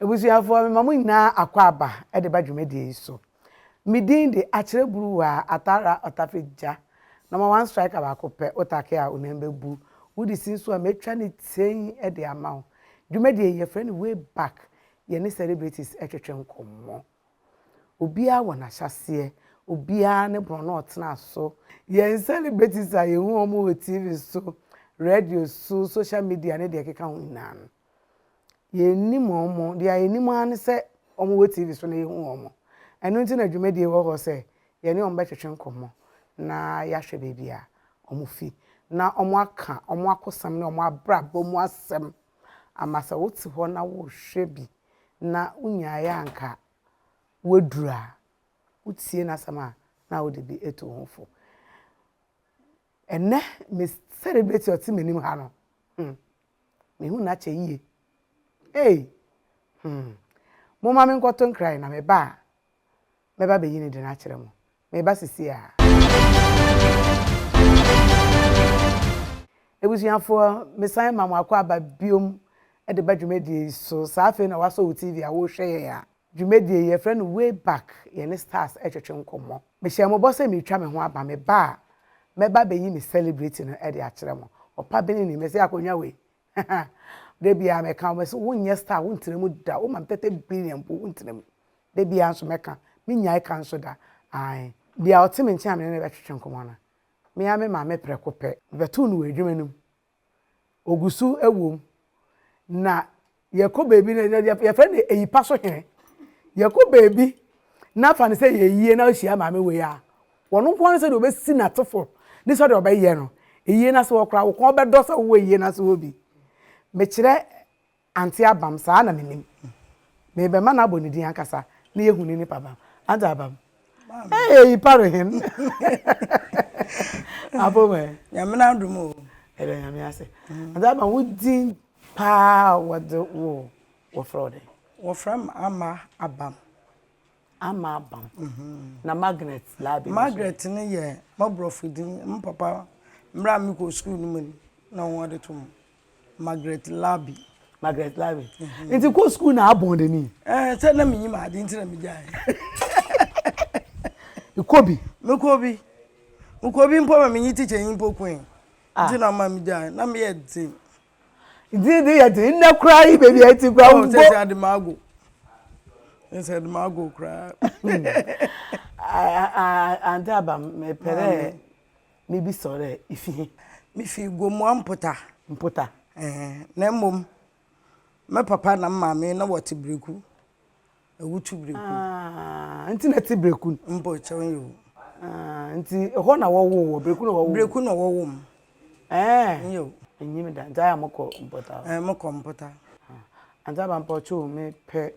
Abusuafoɔ, mema mo nyinaa akwaaba de ba dwumadie yi so. Me din de, Akyerɛ Buruwaa, Atara Ɔtafe Gya, Number One Striker Baako Pɛ, wo take a wo nan bɛbu, wo de si nso a mɛtwa ne tei de ama wo. Dwumadie yi, yɛfrɛ no Way Back, yɛne celebrities twetwe nkɔmmɔ. Obiara wɔ n'ahyɛaseɛ, obiara ne borɔno a ɔtenaa so. Yɛn celebrities a yɛhu wɔn wɔ TV so, radio so, social media ne deɛ ɛkeka ho nyinaa no, Yɛnnim wɔn. Deɛ yɛnim ara ne sɛ wɔwɔ TV so na yɛhu wɔn. Ɛno nti na dwumadie wɔ hɔ sɛ yɛne wɔn bɛtwetwe nkɔmmɔ na yɛahwɛ baabi a wɔfi na wɔaka wɔn akosɛm ne wɔn abrabɔ mu asɛm ama sɛ wote hɔ na worehwɛ bi na wonyaeɛ a anka woaduru a, wotie n'asɛm a na wode bi atu wo ho fo. Ɛnnɛ, me celebrity a ɔte m'anim ha no, hmm, Mehu no akyɛ yie. Ei! Hmm. Momma menkɔto nkra yi na meba a, mɛba abɛyi ne din akyerɛ mo. Meba sesie ara. Abusuafoɔ, mesan ma mo akwaaba biom de ba dwumadie yi so. Saa afei na woasɔ wo TV a worehwɛ yɛn a, Dwumadie yi, yɛfrɛ no Way Back, yɛne Stars retwetwe nkɔmmɔ. Mehyɛɛ mo bɔ sɛ meretwa me ho aba, meba a, mɛba abɛyi me celebrity no de akyerɛ mo. Ɔpa bene ni, mese akonnwa wei, haha. Da biara mɛka, wɔn se wonyɛ star, wontena mu da, woma me thirty billion mpo, wontena mu. Da biara nso mɛka, mennyae ka nso da, ae. Bia ɔte me nkyɛn a me ne no bɛtwetwe nkɔmmɔ no, me ara me maame prɛko pɛ, mebɛtoo no wɔ adwuma no mu, Ɔgu so wom. Na yɛkɔ baabi no, yɛfrɛ no ayipa so hene. Yɛkɔ baabi na fa no sɛ yɛ yie na wohyia maame wei a, wɔn nko ara sɛ deɛ ɔbɛsi n'atefo ne sɛ deɛ ɔbɛyɛ no yie no ase hɔ koraa, wo kɔn bɛdɔ sɛ wowɔ yie no ase hɔ bi. Mekyerɛ Ante abam saa na menim. Mebɛma no abɔ ne din ankasa na yɛahu ne nipa bam. Ante abam? Eeii pare hen. Abom ɛ. Nyame no adom o. Yɛda Nyame ase. Ante abam wo din paa a wɔde wo wɔfrɛ wo dɛn? Wɔfrɛ me Ama Abam. Ama abam. Na Margaret Labi no so. Margaret no yɛ m'aborɔfo din. Me papa mmerɛ a mekɔɔ sukuu no mu no na wɔde to mu. Margaret Labi. Margaret Labi. Nti kɔ sukuu na abɔn de ni. Ɛɛ sɛ na menyim ade nti na megyae. Kɔ bi. Mekɔ bi. Mekɔ bi mpo ma menye tikyanyi mpo koe. Nti na ɔma megyae. Na meyɛ dzen. Didi yɛ den nnɛ koraa yi baabi a ɛte koraa wo bɔ. Sɛ sɛ ademago. Sɛ ademago koraa. Ante aba mepɛ dɛ mebi sɛ dɛ ifi he. Mifi Gomua Mpota. Mpota. Na mmom me papa na me maame na wɔte Breku. Ɛwotu breku. Aah, nti na ɛte breku no. Mpo kyɛw nyɛ o. Aah, nti ɛhɔ na wɔwoo wɔ, breku na wɔwoo. Breku na wɔwoo m. Ɛɛ. Nyɛ o. Ɛnyɛ me da, nti ayɛ a mokɔ mpɔtaa. Ɛɛ, mokɔ mpɔtaa. Auntie Aba mpa ɔkyɛ o, me pɛ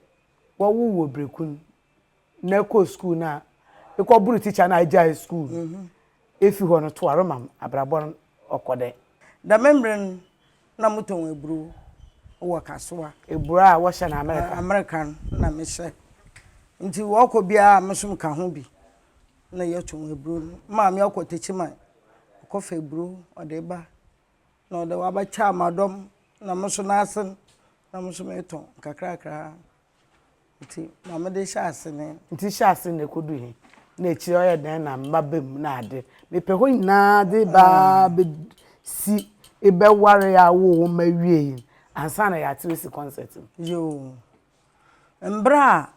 wɔwoo wɔ breku no na ɛkɔ school na ɛkɔ buru teacher na agyae school no. Ɛfi hɔ no toa rema m, abrabɔ no ɔkɔ dɛ. Dɛm mmerɛ no, na motɔn aburo wɔ Kasoa. Aburo a wɔhyɛ no Amerika? Amerika no na mehyɛ. Nti wɔkɔ biara me nso meka ho bi na yɛtɔn aburo no. Maame ɔkɔ Tekyiman, ɔkɔfa aburo ɔde ba na ɔde waba Kyamadɔm na me nso n'ase no na me nso metɔn nkakrakra. Nti ma me de hyɛ ase ne. Nti hyɛ ase na ɛkɔdu he? Na akyire yi ɔyɛ dɛn na mma ba mu na ade? Mepɛ hɔ nyinaa de ba bɛsi bɛware a wowɔ hɔ ma awie yi ansa na yɛate wasi kɔnsɛt no. Yoo. Mberɛ a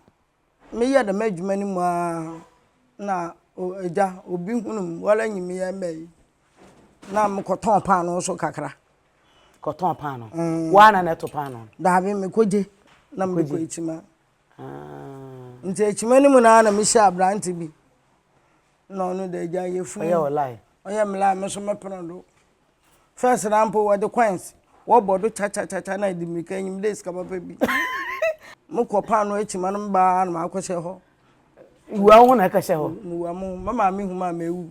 meyɛ dɛm adwuma no mu ara na Agya, obi hunuu me, wara nyi me yɛ mmɛ yi. Na mekɔtɔn paanoo nso kakra. Kɔtɔn paanoo. Mm. Woa na na ɛto paanoo no? Daabi mekɔgye na mede kɔ akyima. Ah. Nti akyima no mu naa na mehyɛ aberante bi. Na ɔno de agya yɛ funu. Ɔyɛ ɔlae. Ɔyɛ melae me so mepene do. First na mpo wɔde coins wɔbɔ do kyakyakya na ɛde mmirika nyim dɛ sika papa bi. Mekɔ paanoo akyima no mebaa na makɔhyɛ hɔ. Wua wo ho na ɛkɔhyɛ hɔ? Mewua mo. Me maame hu me a mewu.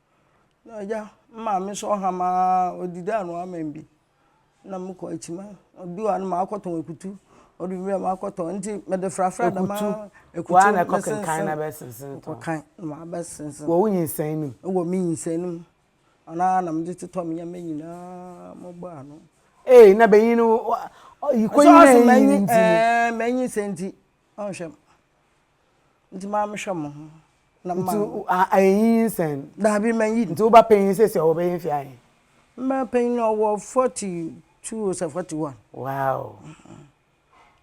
Na agya, me maame so ɔham ara, ɔdi dɛ anoa aman bi. Na mekɔ akyima, obi wɔ ha no makɔtɔn akutu, ɔde bi berɛ makɔtɔn, nti mede frafra dɛm ara. Akutu, woa na ɛkɔkenkan na ɛbɛsensɛn tɔn? Mekɔkan na mabɛsensɛn. Wɔ wo nyinsɛn no mu? Wɔ me nyinsɛn no mu. Ɔno ara na mede totɔ me nneɛma nyinaa mobɔ ano. Ei, na banyin no, ɔyi kɔnyinaa nyi nti no. Ɛɛ, manyinsɛn nti, ɔnhwɛ me. Nti maa me hwɛ mo ho. Na ma. Nti ayenyin sɛn. Daabi ma yin. Nti wo ba panyin sɛ sɛ ɔbɛyɛ mfe ahe. Mma panyin no ɔwɔ forty two sɛ forty one. Wow.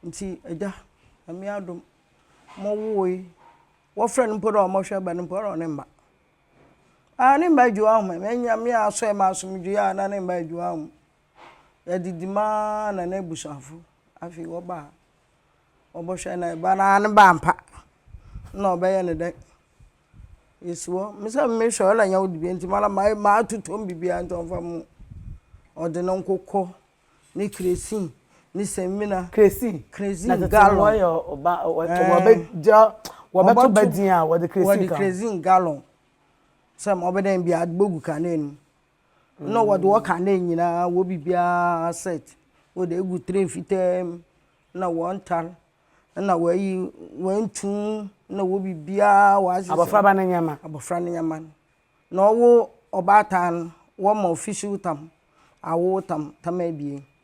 Nti agya nyame adom mo woo yi wɔfrɛ no mpo dɛ ɔmɔ hwɛ ba no mpo ɔne mma. Aa ne mma adwuma ahom ɛ nyame asɔ ɛ ma asomdwoe a na ne mma adwuma ahom. Yɛdidi maa na n'abusuafo afei wɔbaa. Ɔbɔhwɛ na eba na ne ba ampa nna ɔbɛyɛ no dɛn? Yesi hɔ, me sɛ mehwɛ ɔla nya wo dibea ntsi mara matotɔ mu bibia ntsi ɔmfa mo ho. Ɔdze no nkokɔ, ne kresin, ne semina. Kresin? Kresin gallon. Na tsetse no wɔyɛ ɔba wɔbɛgya wɔbɛto ba dzin a wɔdze kresin ka ho. Wɔdze kresin gallon sɛ ma ɔbɛdɛn bia adze bogu kanee no mu. na wɔde ɔka ne nyinaa wɔ biribiara set wɔde agu tray fitaa mu na wɔntare na wɔayi wɔantu na wɔ biribiara wɔahyehyɛ abɔfraba no nneɛma abɔfra no nneɛma no na ɔwo ɔbaatan wɔma official tam awo tam tam abien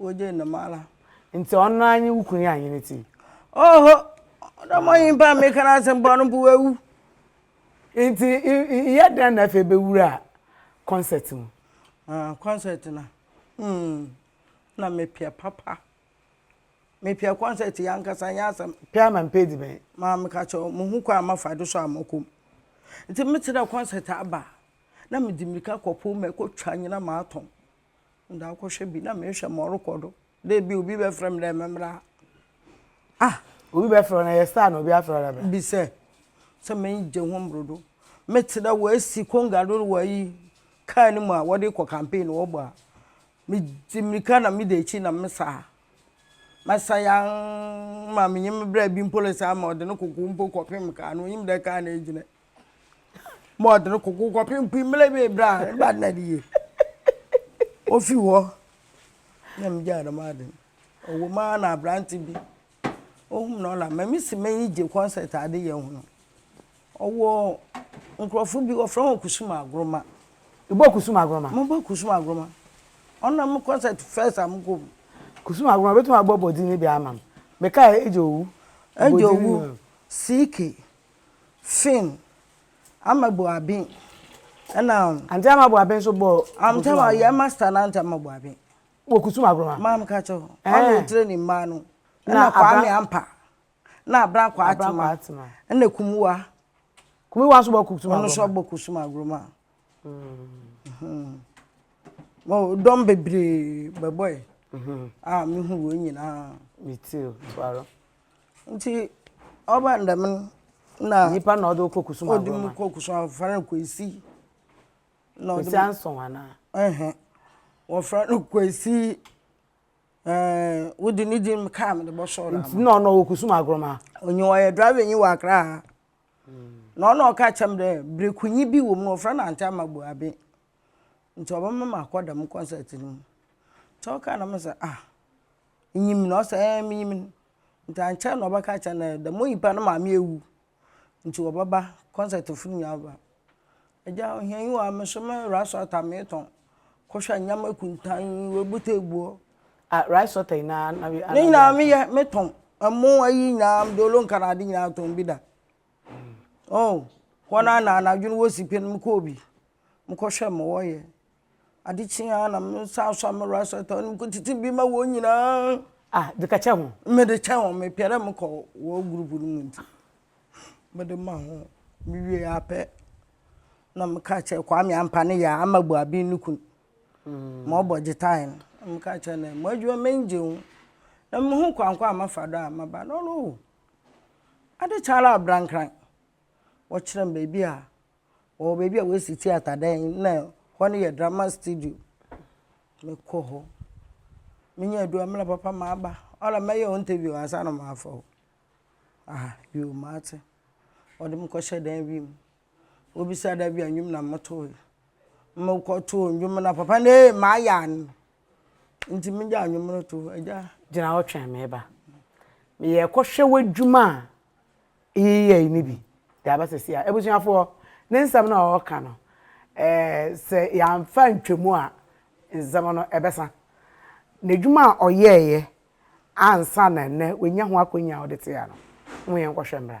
Wogye nnom ara. Nti ɔno ara nye wo kunu yi anwene ti? Oho, ɔdɔ mɔ nyimpa a meka no asɛm bɔ no mpo wawu. Nti yɛ dɛn na afei bɛwura concert mu? Ah, concert no. Hmm. Na mepia papa. Mepia concert yɛ ankasa nyɛ asɛm. Pia ma mpɛ di bɛn? Ma meka kyɛ wo, muhu kwan a mafa do so a mɔkɔ mu. Nti metse dɛ concert aba a, na medze mirika kɔpow mu kɔtwa nyina matɔn. Nda akɔhwɛ bi na mehwɛ ma ɔrokɔ do dɛ bi a obi bɛfrɛ me dɛ mɛmbra ha. Ah! Obi bɛfrɛ wo na yɛ star na obi afrɛ wo dɛ bra. Bi sɛ, sɛ megye ho mbordo, metse dɛ woesi kongua do wɔ ayi, kaar no mu a wɔdze kɔ campaign no wɔbɔ a, midzi mirika na meda ekyir na mesa ha. Mɛsa yann ma menye me bra bi mpo resa ama ɔdze no koko mpo kɔpem kaar no, onyim dɛ kaar no egyina yi. ma ɔde no koko kɔpem kwi mmerɛ bi bra ba na de yie ofi hɔ na me gyaa dɛm ade ɔwɔ mu ara na aberante bi ohum na ɔla mɛmi si mɛyi gye concert ade yɛ ho no ɔwɔ nkurɔfo bi wɔfrɛ wɔn kusum agoroma ibɔ kusum agoroma mo bɔ kusum agoroma ɔna mo concert first a mo kɔ mu kusum agoroma bɛtumi abɔ bɔdi ne bi ama m meka ɛgye owu ɛgye owu siike Finn, Ama Boabin, ɛna. Ante Ama Boabin nso bɔ. Ante Ama yɛ master na Ante Ama Boabin. Wɔ Kusum Agoroma. Maa mi ka kyɛ hɔ. Ɔna etire ne mmaa no. Ɛna Kwame Ampa. Na Abran Kwaatima. Ɛna Kumuwa. Kumuwa nso bɔ Kusum Agoroma. Ɔno nso bɔ Kusum Agoroma. Dɔm bebree bɛbɔe. A mehu wɔn nyinaa. Me too, Tuaro. Ntsi ɔba no dɛm no na. Nyimpa na ɔdze wo kɔ kusum agorɔ ma. Ɔdze me kɔ kusum agorɔ wɔfrɛ no Kwesi. Kwesi Anson anaa? Ɛhɛn wɔfrɛ no Kwesi ɛɛn wode ne dzin kaa medze bɔsɔɔ no ama. Nna ɔno ɔwɔ kusum agorɔ ma? Onnyi hɔ ɔyɛ driver nyi wɔ Accra ha na ɔna ɔka kyerɛ me dɛ brekunyi bi wɔ mu no wɔfrɛ no Anti Amabu Abe. ntsi ɔbɛma makɔ dɛm kɔnsɛt no mu. Ntsi ɔkaa dɛm no dza ah inyim no? Ɔse eeh minyim no. Ntsi annkyɛr na ɔbɛka akyerɛ no dɛ dɛm onyimpa no ne maame ewu ntsi wɔbɛba kɔnsɛt fo no nyinara bɛba. Agya ohia nnyi hɔ a me so me raesɔta metɔn kɔhwɛ ndzɛmba kuntann, woebutuw egu hɔ. Ah raesɔta yi na. Ne nyinara meyɛ, metɔn, mo ayi nyinara, mdolo nkana ade nyinara metɔn bi da. Oh, hɔn a na anadwo no wosi pen mokɔɔ bi, mokɔhwɛɛ ma wɔyɛ. Ade kyee a na me nsa asɔ a me werɛ asɔ ta no mekɔtsetse bi ma hɔn nyina. Ah, dze kɛkyɛ hɔn. Medze kyɛ hɔn, mepɛ dɛ mokɔ hɔn group no mu ntsi medze ma hɔn. Muwiei ara pɛ na mekaa kyerɛɛ Kwame Ampah ne yer Ama Boabin no kun, ma ɔbɔ gyetae no, na mekaa kyerɛɛ no dɛ, M'edwuma m'enyi gye ho, na muhu kwan kor a mɛfa do a mɛba no, ɔno oh. Ade kye ara abrankran, wɔkyerɛ me baabi a wɔwɔ baabi a wɔasi theatre dan yi, na hɔ no yɛ drama studio. Mekɔ hɔ. Menya adu a, mena papa maba. Ɔla mɛyɛ wo interview ansa na mafa wo. Ah, yoo, mate. Wɔde me kɔhyɛɛ dan bi mu. Wobisa da bi a nnwom na motoe. Mokɔtoo nnwom no a papa no ee mayɛ ano. Nti megyaa nnwom no to hɔ. Agya. Gyina hɔ twɛn me ba. Meyɛɛ kɔhwɛ w'adwuma a yeyɛe no bi de aba sɛ sei a. Abusuafoɔ, ne nsɛm no a ɔreka no, eh, sɛ yɛamfa antwam a, nsɛm no ɛbɛsa. N'adwuma a ɔyɛeɛ ansa na nnɛ wanya ho akwannya a ɔde te ha no, mo yɛnkɔhwɛ mmra.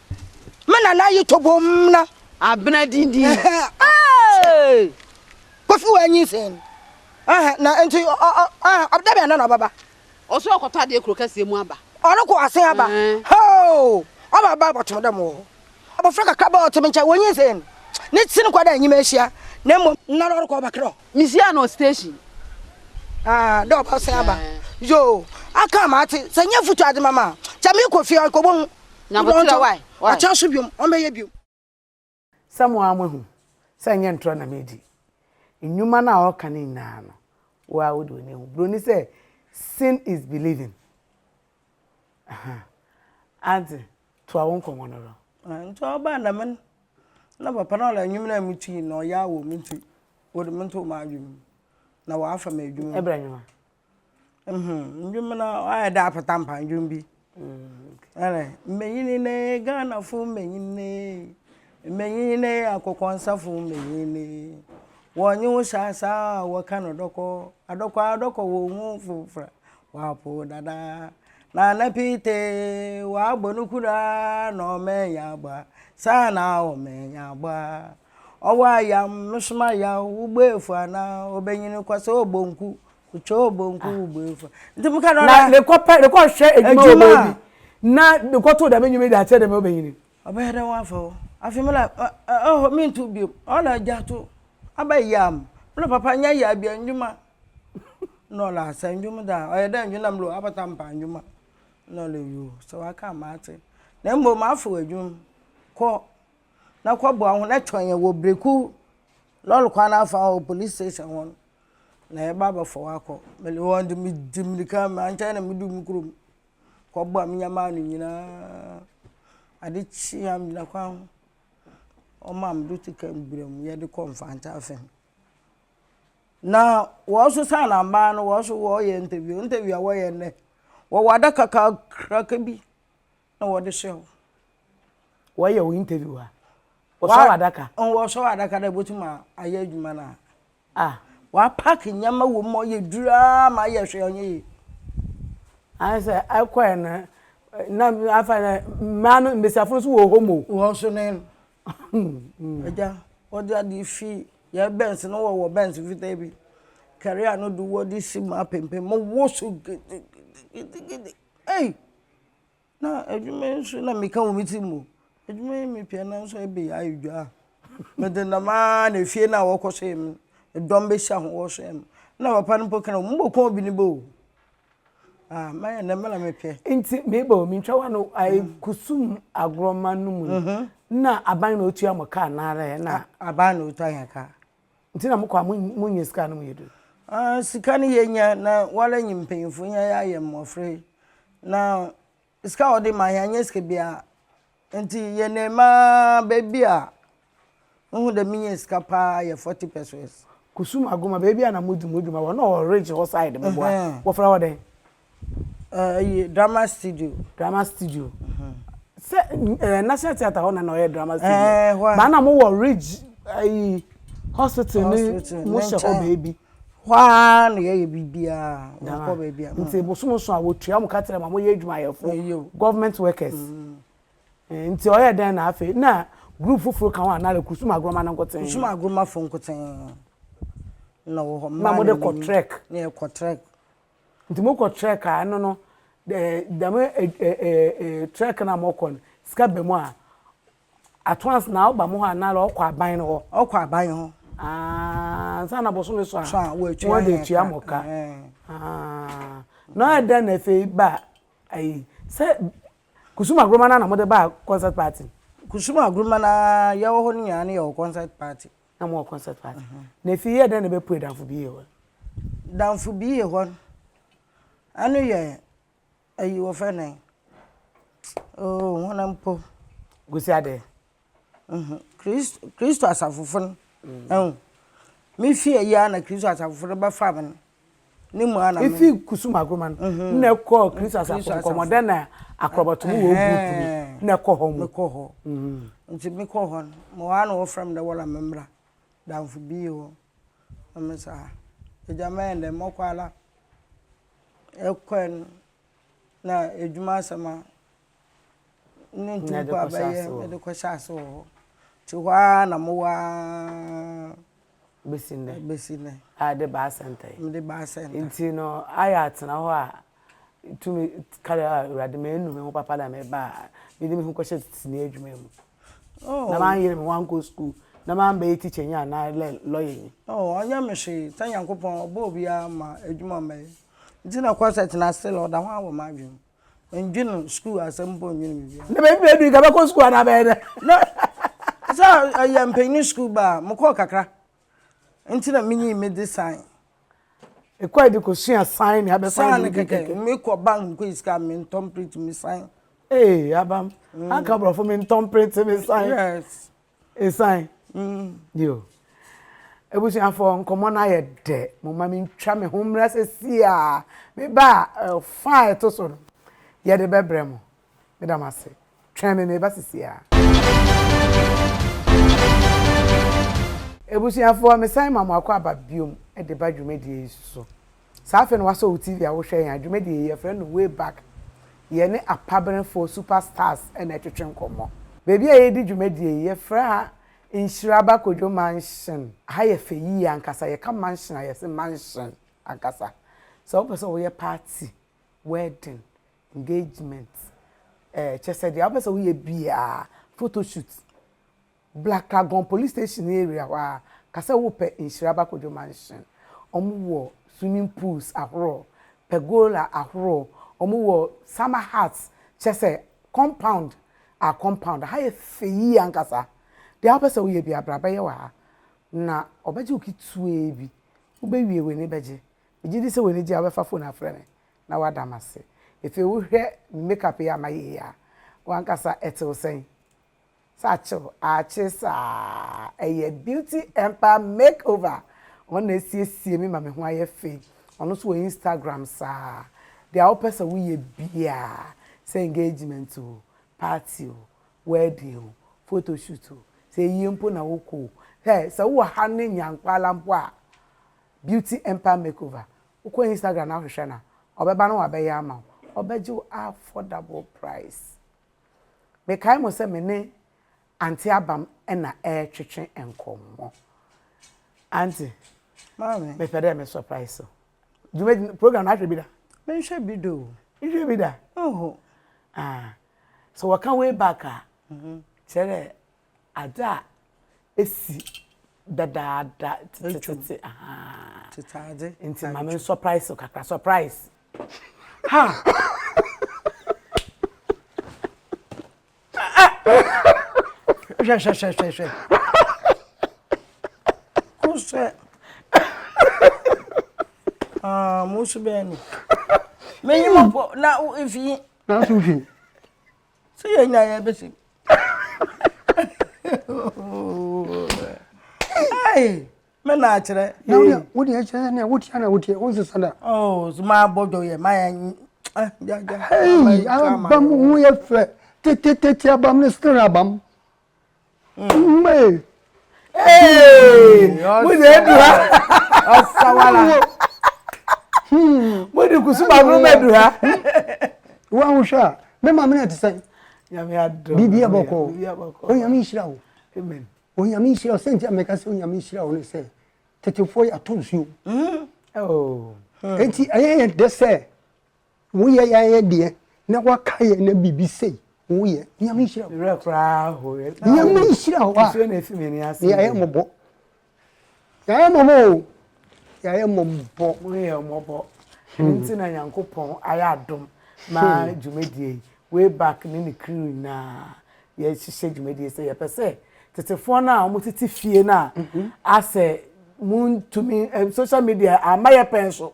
Me nana ayi tobom na. Abena dindin. Kofi wa nyi sen. Na nti ɔbda bɛn na na ɔbɛba. Ɔsɛ ɔkɔtɔ adeɛ kuro kɛseɛ mu aba. Ɔrekɔ asen aba. Hoo! Ɔba aba abɔtom dɛ mo wɔ hɔ. Abɔfra kakra bɛɛ ɔte me nkyɛn wɔnyi sen. Ne ti no kɔ dɛ nyima ahyia na mmom. Nna na ɔrekɔ ɔbɛkra o. Misia no station aa dɛ ɔba sɛn aba yoo aka ma ate sɛ nyɛ futu ade ma ma kyɛ me kɔ fie ɔkɔ bɔ hu nyabotra wai akyɛ so biom ɔn bɛyɛ biom. Sɛ mo ara moahu sɛ ɛnyɛ ntorɔ na medi nnwuma no a ɔreka no nyinaa no, wo ara wode w'ani ahu. Buroni sɛ, Seeing is believing. Aha. Ate? Toa wo nkɔmmɔ no do. Ah ntsi ɔbaa dɛm no na papa no ɔdɛ nwom no a metui no na ɔyaa wɔ me ntsi wɔde me too m'adwen mu na ɔafa me edwuma mu. Ebɛn nwom? Mhm, ndwom no ɔayɛ dɛ apata mpa ndwom bi. Ɔdɛ, Mbanyin ee, Ghanafo mbanyin ee, mbanyin ee, akokɔnsafo mbanyin ee, wɔnye wo hyɛ asaa a wɔka no dɔkɔ, adɔkɔ adɔkɔ wonnhu wo fofor a, Wapo dada na ne pite wabɔ no kura na ɔmɛnya bɔ a saa na ɔmɛnya bɔ a ɔwɔ ayam no soma ya wo bɔ efu ana ɔbɛnyini kɔ sɛ ɔbɔ nku kutwa ɔbɔ nku ah. wo bɔ efu nti mo ka dɔ na ne kɔ pɛ ne kɔ hwɛ edwuma wɔ baabi na ne kɔ to dɛm enyuma de akyɛ dɛm ɔbɛnyini. ɔbɛyɛ dɛ wɔn afa o afei mi na ɛhɔ mi ntu biom ɔna gya to aba yam mi na papa nya yɛ abia ndwuma Nɔl a sɛ ndwom da a ɔyɛ dɛ ndwom na melo abata mpa ndwom a nɔl yoo sɛ waka a mate na mbom mafow edwom kɔ na kɔ boa hɔn na twɛn yɛn wɔ breku lɔl kwan n'afa hɔ polis station hɔ no na yɛba abɔfɔw akɔ melo hɔn dze medzi mirika mankyɛn na mudu mo kurom kɔ boa me nyɛma ano nyina ade kyee a megyina kwan ho wɔmaa me dɔte kaa mu bira mu yɛde kɔ mfantse afa mu. Na wɔn so sɛ anambaa no wɔn so wɔyɛ interview interview a wɔyɛ nnɛ wɔwɔ adaka kakraka bi na wɔde hyɛ hɔ. wɔyɛ wɔn interview a wɔsɔ adaka. wɔsɔ adaka dɛ botum ayɛ adwuma no a. a wɔapak nneɛma wɔ mu ma ɔyɛ duru ara ma ayɛ hwɛ ɔnyɛ yie. ayɛ sɛ ɛkɔɛ no na afa dɛ mmaa no mbesiafo no so wɔ hɔ mu. wɔn so ne no. Agya, wɔde adeɛ fi yɛn bɛns no wɔ wɔ bɛns fitaa bi. Kɛrea no de wɔde si mu apempem mu wo so gidigidigidi. Ei! Na adwuma yi nso na meka wɔ me ti mu. Adwuma yi mepia na nso ɛbɛ yɛ ayɛ dwa. Mede nam ara na efie no a wɔkɔ so yɛ me dɔm bɛhyia ho wɔ so yɛ me. Na papa no mpo kena mu bɔ kɔn bi ne bɛ o. Ah, maya na mala me pɛ. Nti meba o, mentwa wa no ayi mm. kusum agorɔma no mu. Mhm. Na aban na otua mo kaa naara ɛ na. Aban na otua yɛn kaa. Nti na mokɔ a monyɛ sika no mu yɛ duru. Ah, sika no yɛnya na wala nyi mpanyimfo nya yɛ ayɛ mmɔfra yi. Na Sika a ɔde ma yɛn annyɛ sika biara, ntsi yɛnam ara beebi a muhu dɛ minya sika paa yɛ forty pesewas. Kusum Agoma, beebi a na modzi mo dwuma wɔ, nna ɔwɔ Ridge hɔ side mbɔboa, wɔfrɛ hɔ dɛn? Ɛɛ, iyi, Drama Studio. Drama Studio. Sɛ ɛɛ National Theatre hɔ na nna ɔyɛ Drama Studio. Ɛɛ, hɔ a. Ba nna mowɔ Ridge, ayi, hospital ne, mohyɛ hɔ beebi. Hɔ ara na yɛyɛ biribiara, yɛnkɔ baabiara. Nti bosome so a wɔtua mo ka kyerɛ ma moyɛ adwumayɛfo, government workers. Mm-hmm. Nti ɔyɛ dɛn na afei na group foforɔ ka ho a na Kusum Agorɔma no nkoten? Kusum Agorɔmafo nkoten na wɔ hɔ. Na mode kɔ trek? Na yɛkɔ trek. Nti mokɔ trek a ɛno no dɛm trek no a mokɔ no sika bɛ mu a Atoas na ɔba mo hɔ anaa na ɔkɔ aban no hɔ? Ɔkɔ aban hɔ. Ah, ansa na bosome so a. So a wɔatua wɔde atua mo ka. Ah, na ɔyɛ dɛn na afei ba ayi sɛ Kusum Agoroma na na mo de ba concert party? Kusum Agoroma na yɛwɔ hɔ no nyinaa na yɛwɔ concert party. Na mo wɔ concert party. Na afei yɛ dɛn na ɛbɛpue Danfo Biye hɔ? Danfo Biye hɔ, ɛno yɛ Ayi wɔfrɛ no dɛn oh hɔn mpo Kwesi Adeh mhm Christ Christo asafofo no ehu mifii ayi a na Christo asafofo no bɛfaa me no ne mu a na me. Efi Kusum Agoroma no mhm. na ɛkɔɔ Christo asafo no Nkɔmɔdɛ na Akorɔbɔto mu wɔ group bi na ɛkɔ hɔ mu. Mekɔ hɔ mhm nti mekɔ hɔ no mewɔ hɔ a na wɔfrɛ me dɛ Wɔla memmra Danfo bi wɔ hɔ na me saa Egya mɛyɛ ndɛn mɔkɔ ara. ɛkɔɛ no na adwuma asɛm a ne nti mpo a bɛyɛ mede kɔhyɛ ase wɔ hɔ nti hɔ ara na mowɔ ara bɛsi nnɛ bɛsi nnɛ a de baa sɛnta yi mede baa sɛnta nti no ayɛ atena hɔ a tumi kare a awurade ma ɛnu me ho papa na mebaa mede me ho kɔhyɛ tetesini adwuma mu na manyere me ho ankɔ sukuu na mambɛyɛ tikyanyi anaa lɛ lɔyanyi. Oh ɔnyɛ me hwee sɛ Nyankopɔn ɔbɔɔ obiara ma adwuma a ɔmbɛyɛ nti na kɔ sɛ tena still ɔda ho ara wɔ m'adwen mu mendwen no sukuu asɛm mpo mendwen biribiara. Na baabi bɛɛdu yi nka bɛkɔ sukuu anaa bɛyɛ dɛ? Na sɛ ɛyɛ mpanyini sukuu baa a mekɔɔ kakra nti na minyii me design Ekɔ ɛde kɔ sua sign na abɛsan de odi kɛkɛ. Sign kɛkɛ me kɔ bank me kɔ yi sika me ntɔn print me sign. Ee abam mm. anka brɔfo me ntɔn print me sign. Yes. Esan. Mm. Yo. Ebusuafo nkɔmɔ na yɛ dɛ mo ma me ntwa me ho mmra sɛ si a me ba eh, fa ɛto so no yɛde bɛbrɛ mo. Meda mo ase. Twɛn me, mereba sesiaa. Abusuafoɔ, mesan ma mo akɔ aba biom de ba dwumadie yi so. Saa afei no wasɔ wo TV a wohwɛ yɛn a, dwumadie yi yɛfrɛ no Way Back. Yɛne apaberefoɔ, super stars, na ɛtwetwe nkɔmmɔ. Baabi a yɛredi dwumadie yi, yɛfrɛ ha Nhyiraba Kojo Mansion. Aha yɛ fɛ yie ankasa. Yɛka mansion a, yɛse mansion ankasa. Sɛ wopɛ sɛ woyɛ party, wedding, engagement ɛɛ kyɛ sɛ deɛ wopɛ sɛ woyɛ biara photo shoot black lagoon police station ne area hɔ ara ka sɛ wopɛ nhyira bakodwo mansion wɔn wɔ swimming pools ahorow pergola ahorow wɔn wɔ summer huts kyɛ sɛ compound a compound ha yɛ fɛ yie ankasa deɛ wopɛ sɛ woyɛ biara bra bɛyɛ wɔ ha na wɔbɛgye wo ketewa bi wobɛwie w'ani bɛgye megye di sɛ w'ani gye a wobɛfa phone afrɛ me na wada me ase. Afei wohwɛ me makeup yi a mayɛ yi a, w'ankasa ɛtew sɛn? Sɛ akyew aakye saa! Ɛyɛ Beauty Empire Makeover, wɔn na asiesie me ma me ho ayɛ fɛ yi. Ɔno nso wɔ Instagram saa. Deɛ wopɛ sɛ woyɛ biara, sɛ engagement o, party o, wedding o, photoshoot o, sɛ ayie mpo na wokɔ o, hɛ! Sɛ wowɔ ha ne Nyankwala mpo a, Beauty Empire Makeover Wokɔ Instagram na wohwehwɛ no a, ɔbɛba na wabɛyɛ ama wo. Ɔbɛgye wo affordable price. Mekae mo sɛ me ne Aunty Abam na ɛretwetwe nkɔmmɔ. Aunty, Maame. mepɛ dɛ me surprise wo. Dwumadi no, program no ahwɛ bi da? Menhwɛ bi da o. Nhwɛ bi da? Nho. Ah, sɛ wɔka way back a, kyerɛ dɛ adze a esi dadaada tsetsetse ahaa ntsi ma me nsɔprais wo kakra surprise ha hwɛhwɛhwɛhwɛ kusɛ mo nso bɛyɛ no menyi mɔpɔ na mfi nanso mfi sɛ yɛnya yɛ bɛsɛ me na akyerɛ wode ɛkyerɛ sɛ nea wotia na wotie wo nsesa da oh, so maabɔ dwɔyɛ mayɛ ah, abam ho yɛ fɛ tetetete abam ne stere abam Mmee. Ee. Mo na edu ha. Ɔsawala. Mo de kusuma aburo bɛ du ha. Wo ahohwɛ a, me maame na ti sɛ. Nyame adɔ. Bibi abɔkɔ. Onyame nhyira wo. Amen. Onyame nhyira wo. Sɛnti ameka sɛ onyame nhyira wo ne sɛ tetefoɔ yɛ ato nsuo. Mm-hmm. Oh. Enti ɛyɛ yɛ dɛ sɛ Wo yɛ yɛ ayɛ deɛ na wa ka yɛ na bibi sei wo yɛ nyame nhyira wo. Werɛ koraa ho yɛ na wo. Nyame nhyira wo a. Nsuo na efi m'ani ase. Yɛ ayɛ mmɔbɔ. Yɛ ayɛ mmɔbɔ o. Yɛ ayɛ mmɔbɔ. Mo yɛ mmɔbɔ. Ɛno nti na Nyankopɔn ayɛ adom ma dwumadie yi. Way back ne ne crew nyinaa yɛ hyehyɛ dwumadie sɛ yɛ pɛ sɛ tetefoɔ no a wɔn tete fie no a asɛ mo ntumi social media ama yɛ pɛn so.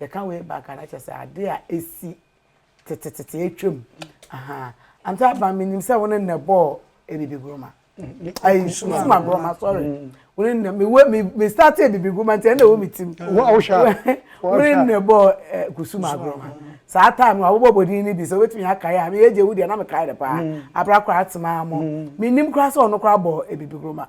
Yɛka way back a na kyerɛ sɛ ade a esi tetetete atwam. Ahaa. Ante Aban menim sɛ wo ne nnɛ bɔɔ Ebibi Goroma. Ayi Kusuma Goroma sorry. Mm. Wo ne nnɛ me me me start Ebibi Goroma nti ɛna ɛwɔ me tim. Wo a wohwɛ. Wo ne nnɛ bɔɔ eh, Kusuma Goroma. Saa time no abobɔ bodin no bi sɛ wobɛtumi akae a meyɛ gye wo deɛ na mekae no paa. Mm. Abra koraa atema mo. Mm. Menim koraa sɛ ɔno koraa bɔɔ Ebibi Goroma.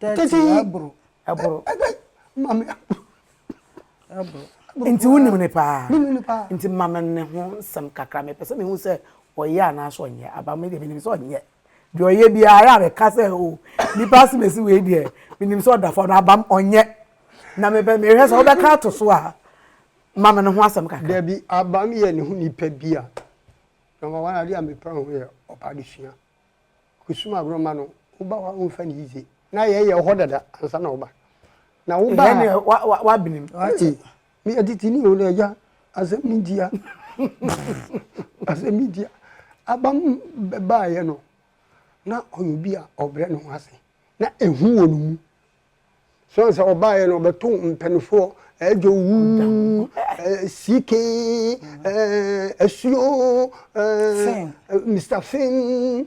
Tɛtɛ yi ɛboro. Ɛboro. Ɛbɛ ma me ɛboro. Ɛboro. Nti wo nim ne paa. Me nim ne paa. Nti ma me ne ho nsɛm kakra me pɛ sɛ me hu sɛ ɔyɛ anaasɛ ɔnyɛ aba me deɛ me nim sɛ ɔnyɛ deɛ ɔyɛ biara a bɛka sɛ o oh, nipa asemesi wei deɛ me nim sɛ ɔda fam na abam ɔnyɛ na me pɛ me hwɛ sɛ wobɛka ato so a ma me ne ho asɛm kakra. Dabi abam yɛ ne ho nipa bi a na ma wɔn adeɛ a me pɛ ho yɛ ɔpa de sua. Kusum agorɔ mma no wo ba wa wo nfa ne yize na yɛ yɛ ɔhɔ dada ansa na wo ba na wo ba a wa wa wa benim ee mi atiti ni o na ɛgya asɛm ni ntia asɛm ni ntia abam bɛ ba yɛ no na ɔyɛ obi a ɔbrɛ ne ho ase na ehu wɔ ne mu So ansa ɔbaeɛ no ɔbɛto mpanifoɔ ɛdwo wuu siike asuo Mr Fim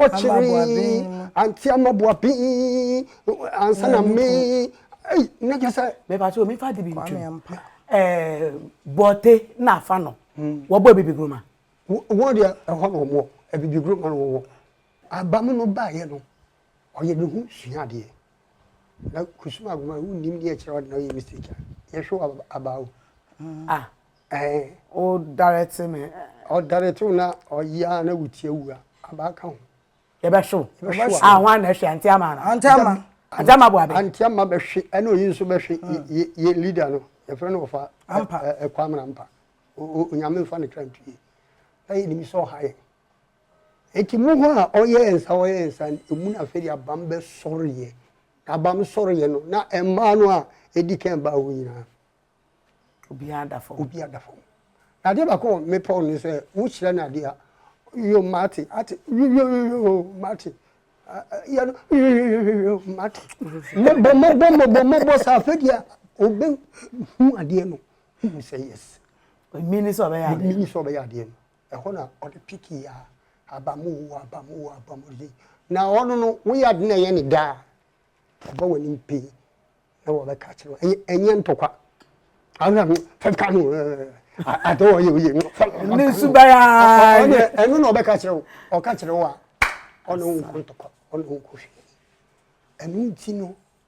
ɔkyere anti amaboaben ansa na me ei na kyɛ sɛ. mɛba so mefa de bi ntwam bɔte na afa no hmm. wɔbɔ abibiguruma. wɔn deɛ ɛhɔ na wɔn wɔ abibiguruma na wɔn wɔ abamu no baeɛ no. ɔyɛ ne ho sua adeɛ na kusuma agoma wo nim ne ɛkyerɛ ɔde na ɔyɛ mistake a yɛhwɛ wɔ aba o ah ɛɛ o direct me ɔdirect wo na ɔyɛ na wotia wu a aba ka ho yɛbɛhwe wo a ho ana ɛhwe ante ama no ante ama ante ama boabe ante ama bɛhwe ɛna oyi nso bɛhwe yɛ leader no yɛfrɛ no ɔfa ɛkwa amena mpa onyame mfa ne kra ntuye na yɛnim sɛ ɔha yɛn Enti mo hɔ a ɔyɛɛ nsa ɔyɛɛ nsa no, emu na afei de abam bɛsɔreeɛ. Na abam sɔreeɛ no, na mmaa no a ɛdi kan baa hɔ nyinaa, Obiara da fam. obiara da fam. Na adeɛ baako a mepɛ wo ne sɛ, wokyerɛ no adeɛ a, yo, mate, ate, yo, yo, yo, yo, mate, a, a, yɛ no, yo, yo, yo, yo, yo, mate. Mmɔbɔ, mmɔbɔ, mmɔbɔ, mmɔbɔ, saa afei deɛ ɔbɛhu adeɛ no, hu sɛ yes, Ɔmini sɛ ɔbɛyɛ adeɛ. ɔmini sɛ ɔbɛyɛ adeɛ no. Ɛhɔ na ɔde piki a aba mu o, aba mu o, aba mu de. Na ɔno no, woyɛ ade na ɛyɛ ne dɛ a, ɔba w'anim pee na wɔbɛka akyerɛ wo. Ɛnyɛ ɛnyɛ ntɔkwa. Ahwɛ no, fɛka no ade a ɔyɛ oye no. Ne nsu bɛyɛ ayɛ. Ɛno na ɔbɛka akyerɛ wo. Ɔka kyerɛ wo a, ɔno nkɔ ntɔkwa, ɔno nkɔ hwee. Ɛno nti no,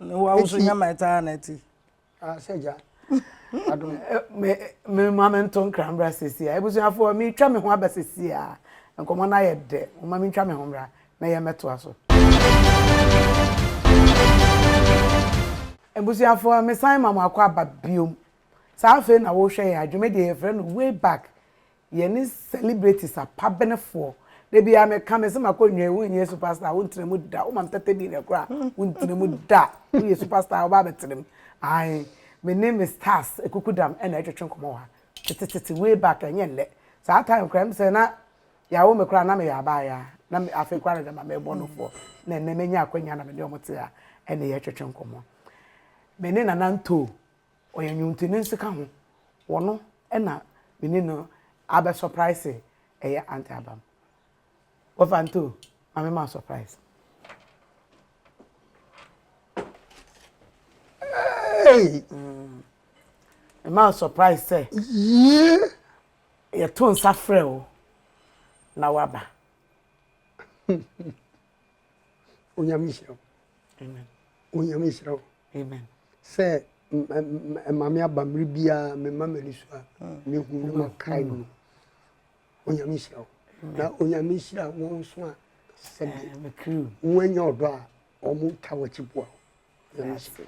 Wa nso nya ma ɛtaa na ɛte. Ahyɛ gya. Adom me me ma me nto nkra mbra sisi a. Ebusuafo me twa me ho aba sisi a. Nkɔmɔ na yɛ dɛ. Mo ma me twa me ho mbra na yɛ mɛto aso. Ebusuafo me san ma mo akɔ aba biom. Saa afei na wo hwɛ yɛ adwuma deɛ yɛ frɛ no way back. Yɛne celebrities apabenefoɔ. Da biara me ka me se ma kɔ nwae wo nyɛ superstar wo ntena mu da wo ma me tɛtɛ bi na kura wo ntena mu da wo yɛ superstar wo ba abɛtena mu ae me ne me stars kukudam na ɛtwetwe nkɔmɔ wɔ ha tetetete way back ɛnyɛ nnɛ saa time kura me sɛ na yawo me kura na me yɛ abaayaa na me afei kura na dɛma me bɔ no foɔ na nnɛ me nya akwanya na me ne ɔmo te ha ɛna yɛtwetwe nkɔmɔ me ne nana ntoo Ɔyɛ nwonti ne nseka ho wɔ no na me ne no abɛ surprise ɛyɛ aunty abam wɔ fa nto ma me ma surprise hey mm. me ma surprise sɛ yie yɛto nsa frɛ o na waba onyame nhyira wo onyame nhyira wo sɛ ɛma me aba mmere biara mema m'ani so a mehu no makae no onyame nhyira wo na onyame nhyira wɔn nso a sɛdeɛ woanya ɔdɔ a wɔn nka wɔkyi boa wo Yɛdase.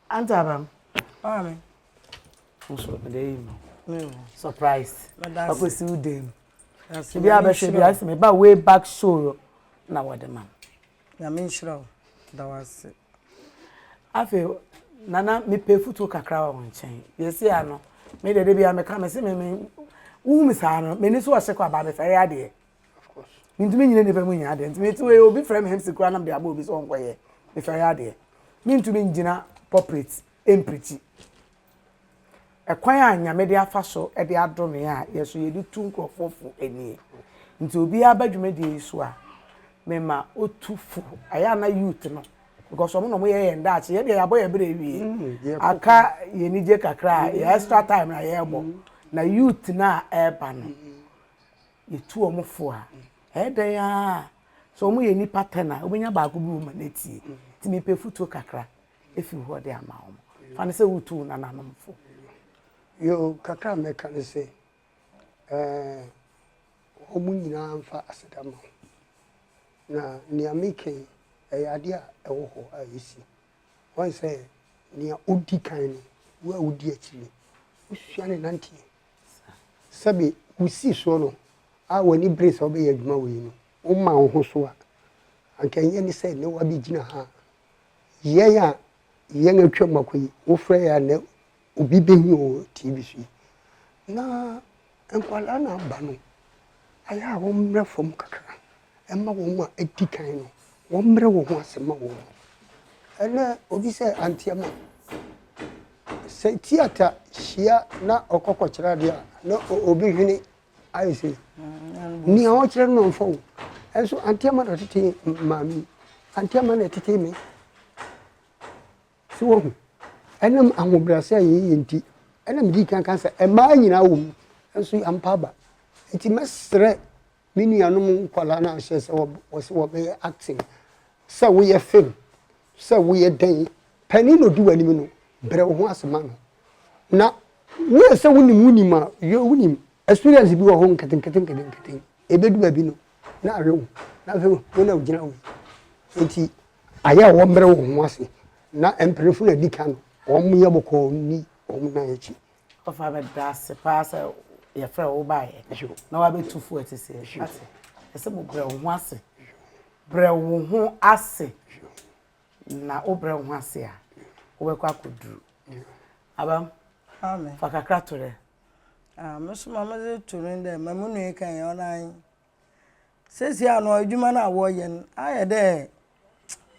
Ante Abram. Maame. Nso ɛdɛ yi no. Surprise. Papa si wo dem. Ebi abɛhwɛ bi asɛ me ba way back show na wɔde ma. Nyame nhyira wo. Da wase. Afei nana mepɛ futuo kakra wɔ wɔn nkyɛn. Yɛsi ano. Me dede bi a meka me se me me wohu me saa no m'ani so ɔhyɛ kɔ aba mefɛre adeɛ. Of course. Mintumi nyina nipa mu nyɛ adeɛ nti mete wei obi frɛ me hemsi koraa na mede abɔ obi sɛ ɔnkɔyɛ mefɛre adeɛ mentumi ngyina pulpit ɛmprikyi ɛkwan a nyame de afa so de adome a yɛ so yɛde tu nkurɔfoɔ fo ɛnie nti obiara ba dwumadie yi so a mema ɔtu fo ɛyɛ ana youth no because ɔmo na ɔmo yɛ yɛn daakye yɛ deɛ yɛabɔ yɛ berɛ awie mm, aka yɛn anigye kakra yɛ extra time na yɛrebɔ mm. na youth no a ɛreba no mm. yɛtu wɔn fo a, ɛyɛ dɛn ara a, sɛ wɔyɛ nnipa ten a, wobɛnya baako bi wɔ mu a n'atie. Nti mepɛ afutuo kakra ɛfiri hɔ de ama wɔn. Fa no sɛ wotu wo nananom fo. Yo, kakra a mɛka ne sɛ, ɛɛ, wɔn nyinaa mfa aseda ma wo. Na nea meka yi, ɛyɛ adeɛ a ɛwɔ hɔ a ɛsi. Wahu sɛ nea odi kan no, wo a wudi akyi no, wusua ne nanteɛ. Sɛbe wusii soɔ no a w'ani bere sɛ wobɛyɛ adwuma wei no, womaa wo ho so a, anka ɛnyɛ ne sɛ nnɛ woabɛgyina ha a yɛn a yɛn atwam akɔ yi, wofrɛ yɛn a nnɛ obi bɛhu wɔ TV so yi na nkwadaa no aba no, ayɛ a wɔmmrɛ fam kakra mma wɔn a adi kan no, wɔmmrɛ wɔn ho ase ma wɔn. Ɛnɛ obi sɛ anteɛma, sɛ tiata hyia na ɔkɔkɔkyerɛ adeɛ a, na obi hwene ayɛ sɛ mm, nea ɔkyerɛ no nɔmfa o. Ɛnso anteɛma na ɔtete maame, anteɛma na ɛtete me. So woahu? Ɛnam ahobrɛase a yɛyɛ nti na midii kan kaa sɛ mmaa nyinaa wom, nanso ampa aba. Enti mɛsrɛ me nuanom nkwadaa no a hyɛ sɛ wɔsɛ wɔbɛyɛ acting, sɛ woyɛ film, sɛ woyɛ dɛn, panin na odi w'anim no, brɛ wo ho ase ma no. Na woyɛ sɛ wonim wonim a, wonim experience bi wɔ hɔ nketenkete nketenkete, ebedu baabi no. na awe wo, na afei wo na wogyina hɔ yi. Nti ayɛ a wɔmmerɛ wɔn ho ase na mpanimfo na di kan wɔnyɛ bɔkɔɔ nni wɔn nan akyi. Ɔfa bɛda ase paa sɛ yɛfrɛ wo wobaeɛ na wabɛtu fo ati sɛ ate ɛsɛ mo brɛ wo ho ase brɛ wo ho ase na wobrɛ wo ho ase a wobɛkɔ akɔduru abam fa kakra to dɛ Ah me so ma me dze to no dɛ ma mo nua yi kã yi ɔnoara nye. Sesei a no edwuma no a wɔyɛ no ayɛ dɛ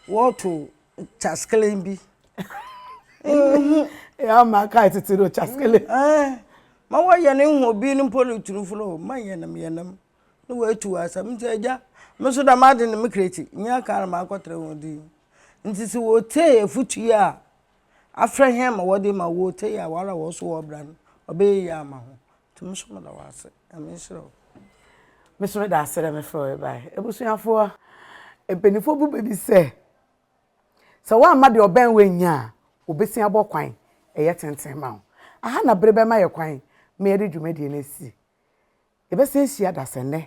wɔto kyaskelen bi Eɛaa makae tsetse dɛ kyaskelen. Ae ma wɔyɛ no ehu obi no mpo no turfo no ma yɛ nam yɛ nam na woetu wo asɛm ntsi egya me so dɛm adze no mekra ekyi nnyɛ kan na makɔtra hɔn dzin ntsi sɛ wotsie efutu yi a. afrɛ hɛn ma wɔdze ma wo otsie a woara wɔ so wɔ ɔbra no, ɔbɛyɛ yie ama ho. Ntsi mo so meda wo ase. Nyame nhyira wo. Me so meda ase dɛ mefrɛ wo bae. Ebusuafowa, mpanyimfoɔ bu bɛ bi sɛ, sɛ woamma deɛ ɔbɛn wo annya a, wɔbɛsin abɔ kwan ɛyɛ tenten ma wo. Aha na bere bɛma yɛ kwan ma yɛde dwumadie no asi. Yɛbɛsan ahyia dasɛnnɛ